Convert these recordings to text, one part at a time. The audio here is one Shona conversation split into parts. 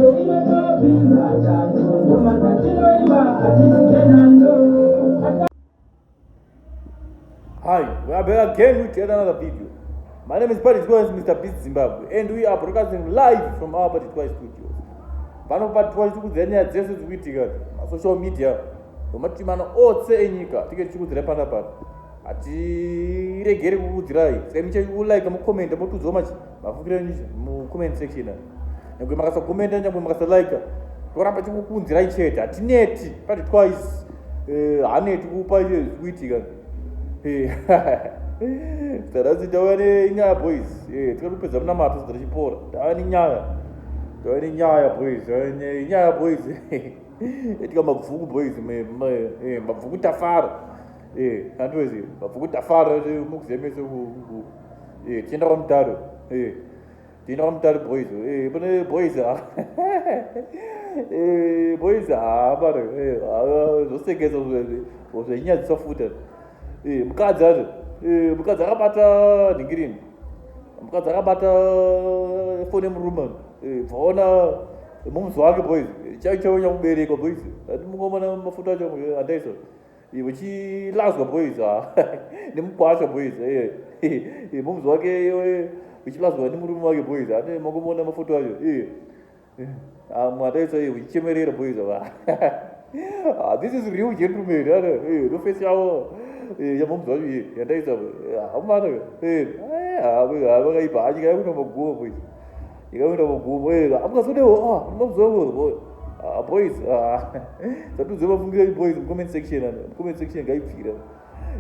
Hi, we are back again with yet another video. My name is Paddy Twice, Mr. Beast Zimbabwe, and we are broadcasting live from our Paddy Twice studios. Pano Paddy Twice tikudzira nyaya dzese dziri kuitika masocial media nematitimano ose enyika tinge tichikudzirai pana pano hatiregere kukudzirai saka michaiulike mukomende motudzwa machi mafukiro enyu mucomment section nyangwe makasagomenta nyangwe makasalika toramba chikukunzirai chete hatineti pati twice eh, haneti kupa iye zvikuitika eh, taradzi tauya nenyaya boys eh, tikati kupedza munamato zidza tichipora tauya nenyaya tauya nenyaya boys nyaya boys etika mabvuku boys mabvuku tafara andwezi mabvuku tafara mukuzemese Eh, tienda kwa mutaro. Eh. Tienda kwa mutaro boys. Eh, pane boys. Ah. Eh, boys ah, baro. Eh, ah, zvosekesa zve. Zvenyaya dzisafuta. Eh, mukadzi ari. Eh, mukadzi akabata dhingirini. Mukadzi akabata fone murume. Eh, bvaona mumzi wake boys. Chaicho nyamubereka boys. Ati mungomana mafuta acho andaisa. Eh, uchilazwa boys nemukwasha boys momzi wake uchilazwa nemurume wake boys ane makumona mafoto acho mwataitsa uchichemerera boys va ah, this is real gentleman nofesi yavo yamomzi wacho yandaitsa hamana vakaipa hanyika yakunomaguva boys ndikauenda kugumo eka amukazodeo ah, mabzovo ah, boys ah. satudze mafungira enyu boys mucomment section ano mucomment section ngaipfira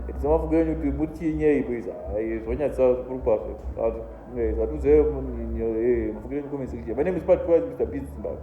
ndidze mafungira enyu kuti mutinyei boys zvonyatsa zvikuru kwazvo satudze mafungira enyu comment section my name is pat mr biz zimbabwe